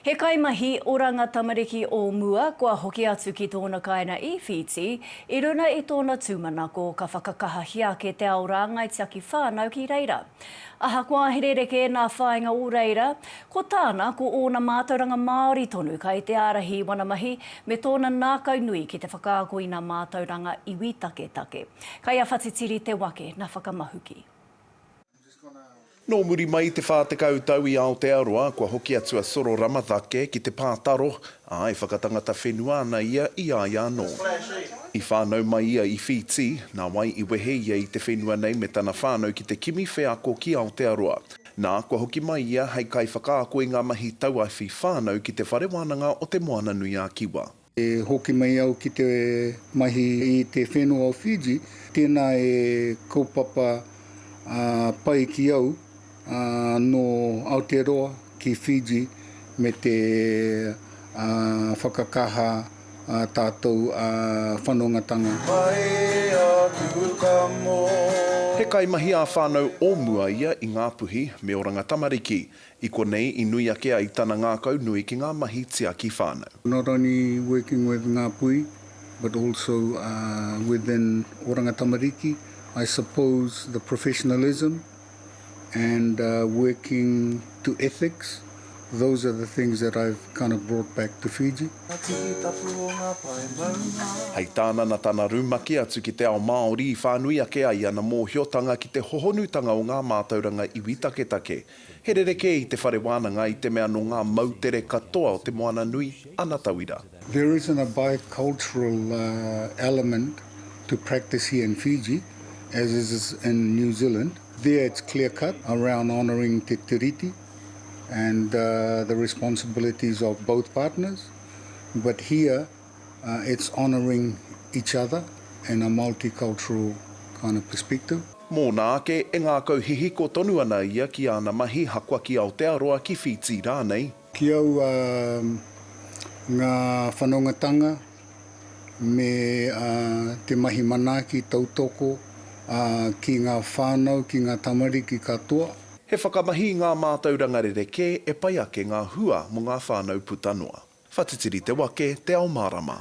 He kaimahi oranga tamariki o mua kua hoki atu ki tōna kāinga i Whītī, i runa i tōna tūmanako ka whakakahahia ake te ao rāngai tiaki whānau ki reira. Ahakoa he rerekē nā whāinga o reira, ko tāna ko ōna mātauranga Māori tonu kai te ārahi i wana mahi me tōna nākau nui ki te whakaako i nā mātauranga iwi taketake. Kai a Whatitiri te wake na whakamahuki. Nō muri mai i te 40 tau i Aotearoa, kua hoki atu a Soro Ramatake ki te pātaro, ā, e whakatangata whenua ana ia i a ia anō. I whānau mai ia i Whītī, nā wai i wehe ia i te whenua nei me tana whānau ki te kimi wheako ki Aotearoa. Nā, kua hoki mai ia hei kaiwhakaako i ngā mahi tauawhi whānau ki Te Whare Wānanga o Te Moananui-a-Kiwa. E hoki mai au ki te mahi i te whenua o Fiji, tēnā e kaupapa pai ki au nō Aotearoa ki Fiji me te whakakaha a tātou whanongatanga. Pai aku ka mō. He kaimahi ā-whānau o mua ia i Ngāpuhi me Oranga Tamariki. I konei i nui ake ai tana ngākau nui ki ngā mahi tiaki whānau. Not only working with Ngāpuhi but also within Oranga Tamariki, I suppose the professionalism and working to ethics, those are the things that I've kind of brought back to Fiji. Hei tāna na tana rumaki atu ki te ao Māori i whānui ake ai ana mōhiotanga ki te hohonutanga o ngā mātauranga iwi taketake. He rerekē i te whare wānanga i te mea nō ngā moutere katoa o Te Moana Nui ana tauira. There isn't a bicultural element to practice here in Fiji as is in New Zealand. There it's clear cut around honouring te tiriti and the responsibilities of both partners but here, It's honouring each other and a multicultural kind of perspective. Mōna ake, e ngākau hihiko tonu ana ia ki āna mahi haka ki Aotearoa, ki Whītī rānei. Ki au, ngā whanongatanga me te mahi manaaki tautoko ki ngā whānau, ki ngā tamariki katoa. He whakamahi i ngā mātauranga rerekē e pai ake ngā hua mō ngā whānau puta noa. Whatitiri te wake, te ao mārama.